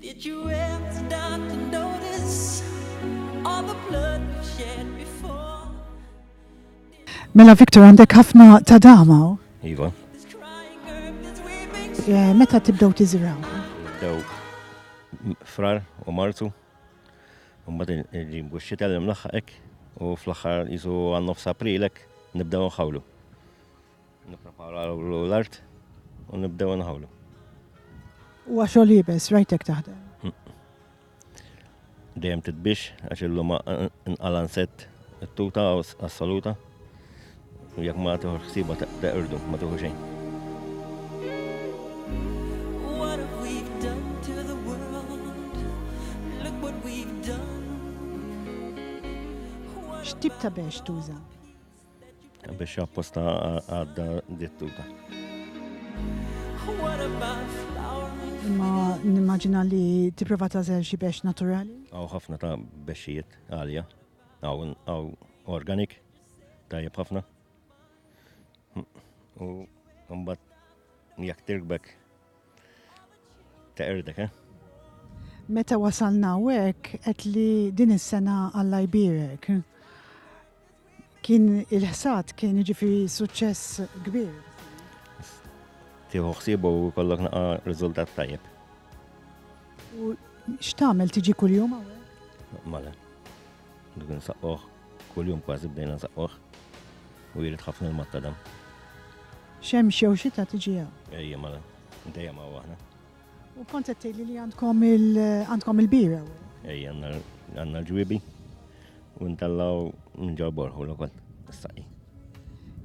Did you ever stop to notice all the blood we shed before? Mela Victor għandek ħafna ta' dama. Iva. Eh, meta tibdew tiżraw? Dew frar u martu. Mbagħad il-ġimbu x-xita l-imlaħħaq u fl-aħħar jisu għan-nofs aprilek nibdew nħawlu. Nippreparaw l-art u nibdew nħawlu. U għaxol jibes, rajtek taħdem? Dejjem titbix, għax illum nqalan set tuta assoluta. U jek ma tuħu xsiba teqrdu, ma tuħu xejn. X'tip ta' bex tuża? Biex apposta għadda dittuta. Ma nimmaġina li tipprova tażel xi bex naturali? Għaw ħafna ta' bexijiet għalja, għaw organik, tajjeb ħafna. U mbagħad jekk tirbek Ta' erdek, eh? Meta wasalna hekk qed li din is-sena Alla jbierek. Kien il-ħsad kien jiġifieri suċċess kbir. Tieħu ħsiebu u kollok naqa' riżultat tajjeb. U x'tagħmel tiġi kuljum hawnhekk? Mala. Dak nsaqquh, kuljum kważi bdejna nsaqquh. U jrid ħafna l-matta dam. Xemx jew xita tiġi hawn. Ejja mala, dejjem hawn aħna. U kont qed tgħidli li għandkom għandkom il-bira. Ejja għandna l-ġwiebi u ntallaw minn ġol borħu l-okol s-saqi.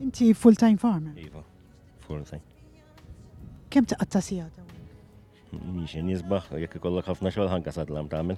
Inti full-time farmer? Iva, full-time. Kem taqatta sijata? Mixin jizbaħ, jek ikollok ħafna xogħol ħanka sadlam tagħmel.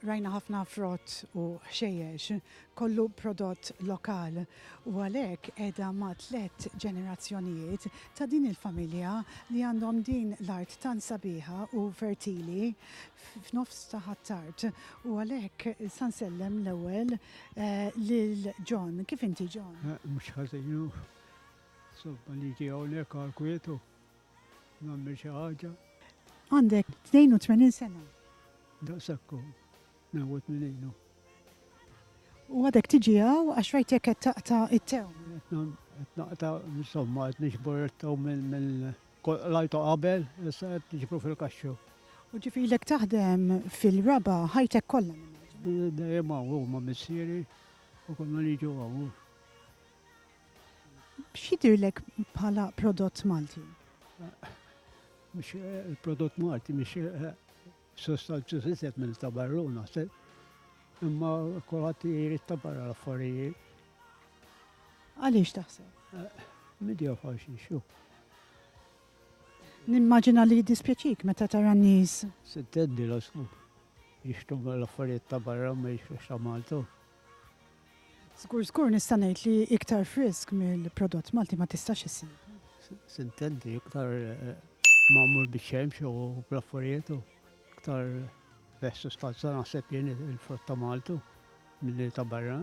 Rajna ħafna frott u ħxejjex, kollu prodott lokal u għalhekk qiegħda ma' tliet ġenerazzjonijiet ta' din il-familja li għandhom din l-art tant sabiħa u fertili f'nofs ta' Ħ'Attard u għalhekk sa nsellem l-ewwel lil John. Kif inti John? Mhux ħażin hu. Insomma niġi hawnhekk għall-kwiet u Nagħmel xi ħaġa. Għandek 82 sena. Daqshekk hu. Newwet minn għinu. U għadek tiġi hawn għax rajtek qed taqta' it-tew. Qed naqta' insomma qed niġbor it-tew mill-lajtu qabel, issa qed niġbru fil-kaxxu. U ġifilek taħdem fil-raba ħajtek kollha. Dejjem hawn huma missieri u konna niġu hawn. X'jidhirlek bħala prodott Malti? Mhux il-prodott Malti mhux sostanzjuż iżjed minn ta' barru naħseb. Imma kulħadd jrid ta' barra l-affarijiet. Għaliex taħseb? Midja faċli xu. Nimmaġina li jiddispjaċik meta tara n-nies. Sittendi l-osmu. Jixtu l-affarijiet ta' barra ma jixtux ta' Malta. Żgur żgur nista' ngħid li iktar frisk mill-prodott Malti ma tistax issib. Sintendi iktar eh, magħmul biċ-ċemx u bl-affarijiet u iktar bes sustanza naħseb jien il-frott ta' Maltu milli ta' barra.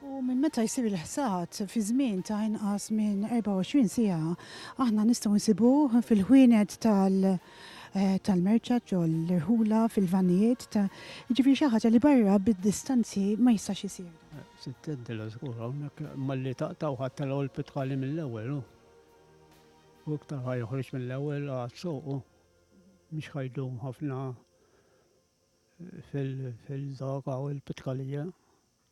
U minn meta jsir il-ħsad fi żmien ta' inqas minn 24 siegħa, aħna nistgħu nsibuh fil-ħwienet tal- tal-merċa ġol-irħula fil-vannijiet ta' jiġifieri xi ħaġa li barra bid-distanzi ma jistax isir dan. Sitt tgħidilha żgur hawnhekk malli taqta' u ħadtilha hu l-pitħali mill-ewwel hu. U iktar ħa joħroġ mill-ewwel għad soqu mhux ħajdum ħafna fil-dawk hawn il-pitħalija.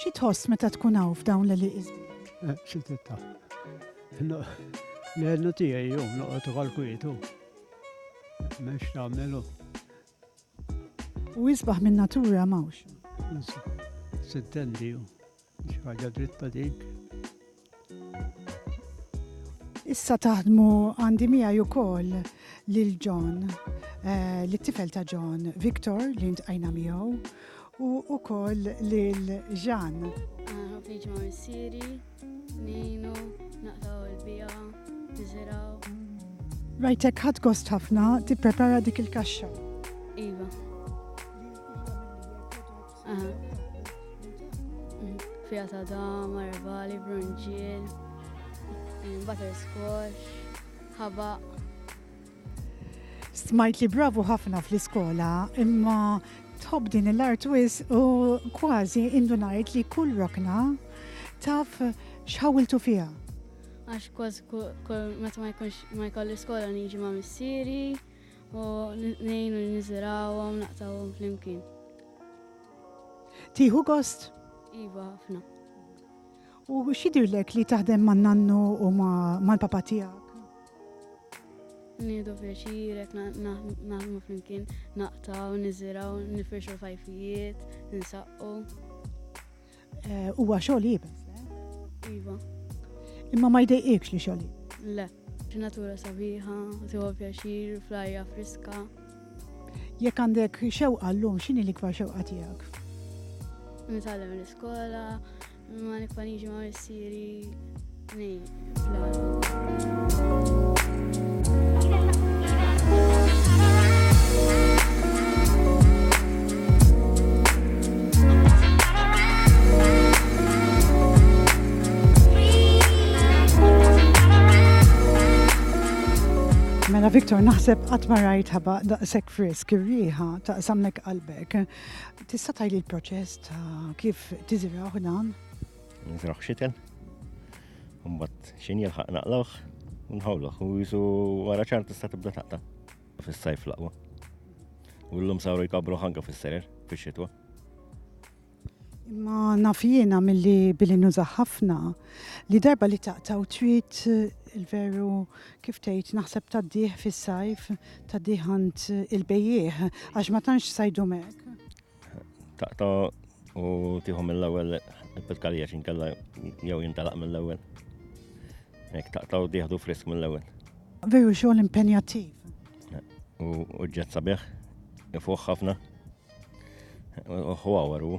Xi tħoss meta tkun hawn f'dawn l-eliqis? Eh, xi titta. L-għednu tiegħi jew noqgħod ukoll kwietu. M'hemmx tagħmelu. U jisbaħ minn natura mawx. Sittendi ju. Mhix ħaġa dritta dik. Issa taħdmu għandi miegħi wkoll lil John, eh, li tifel ta' John, Victor li ntqajna miegħu u wkoll lil Jean. Ħafniġ ah, ma' missieri, ninu, naqtaw il-bija, niżiraw. Rajtek ħadd gost ħafna tipprepara dik il-kaxxa. Iva. Fija ta' dam, arbali, brunġiel, eh, butterscotch, ħabaq. Smajt li bravu ħafna fl-iskola, imma tħobb din l-art wis u kważi indunajt li kull rokna taf xħawiltu fija. Għax kważi meta ma jkunx ma jkolli skola niġi ma' missieri, U ngħinu li niżirawhom naqtawhom flimkien. Tieħu gost? Iva, ħafna. U x'jidhirlek li taħdem man nannu u mal-papa tiegħek? Nieħdu pjaċirek, naħdmu flimkien, naqtaw, niżiraw, nifirxu fajfijiet, nsaqqu. Eh, huwa xogħol jibes. Iva. Imma ma jdejqikx li xogħol. Le, natura sabiħa, tiegħu pjaċir, flajja friska. Jekk għandek xewqa llum x'inhi l-ikbar xewqa tiegħek? Nitgħallem l-iskola, ma nikfaniġi ma' missieri, Mela Victor, naħseb qatt ma rajt ħaba daqshekk frisk ir-riħa ta' samnek qalbek. Tista' tgħid l-proċess ta' kif tiżraw dan? Nizraħ xitel, mbagħad xin jilħaq naqlawh u nħawluh u jisu wara ċar tista' tibda taqta' fis-sajf laqwa. U l-lum sawru jkabru ħanka fis-serer fix-xitwa. Imma nafjina mill-li billi nużaħ ħafna li darba li taqtaw trid eh, il-veru kif tgħid naħseb taddih fis-sajf, taddih għand il-bejjieħ għax ma tantx sajdu mek. Taqta u tieħu mill-ewwel il-pitkarija xinkella jew jintalaq mill-ewwel. Ek taqta u tieħdu frisk mill-ewwel. Veru xogħol impenjattiv. U ġġet sabiħ, ifuħ ħafna. U ħwawar u.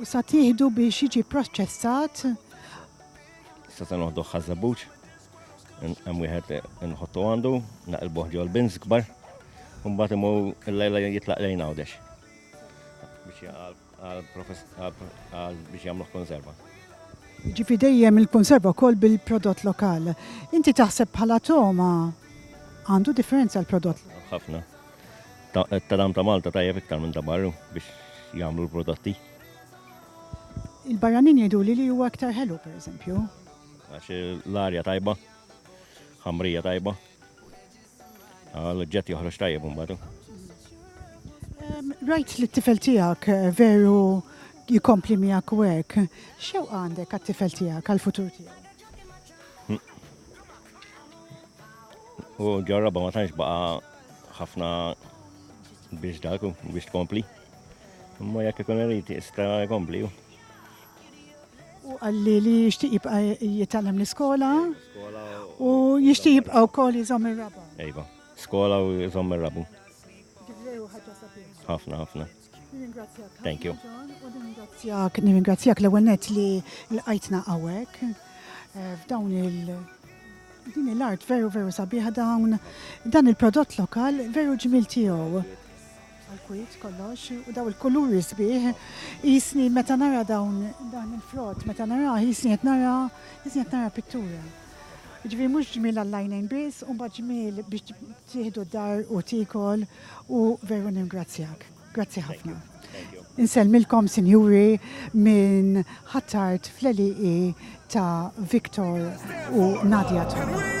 U sa tieħdu biex jiġi pproċċessat. Sa ta' noħduh ħaż-żebbuġ. Hemm wieħed inħottu għandu, naqilbuh ġol bins kbar. Mbagħad imur il-lejla jitlaq lejn għawdex. Biex jagħmluh konserva. Ġifi dejjem il-konserva wkoll bil-prodott lokal. Inti taħseb bħala Toma għandu differenza l-prodott? Ħafna. Tadam ta' Malta tajjeb iktar minn ta' barru biex jagħmlu l-prodotti. Il-barranin jgħiduli li huwa iktar ħelu pereżempju. Għax l-arja tajba, ħamrija tajba. L-oġġett joħroġ tajjeb imbagħad. Rajt li t-tifel tiegħek eh, veru jikompli miegħek u hekk. Xew għandek għat-tifel tiegħek għall-futur tiegħek? U ġarraba ma tantx baqa' Ħafna biex dak biex tkompli. Imma jekk ikun irid jista' jkompli. U għalli li jixtieq jibqa' jitgħallem l-iskola u jixtieq jibqa' wkoll jżomm ir-raba. Ejba, skola u jżomm ir-rabu. Ħafna, ħafna. Thank you. Nirringrazzjak, nirringrazzjak l-ewwel net li l-qajtna hawnhekk eh, f'dawn il- din l-art veru veru sabiħa dawn dan il-prodott lokal veru ġmil tiegħu. Għal-kwit kollox, u daw il-kuluri sbieħ, jisni meta nara dawn dan il-frott, meta nara jisni qed nara jisni qed nara pittura. Ġifieri mhux ġmiel għall-għajnejn biss, u mbagħad ġmiel biex tieħdu d-dar u tiekol u veru nirringrazzjak. Grazzi ħafna. Insellmilkom sinjuri minn Ħattart fl-għelieqi ta' Victor u Nadia Tom.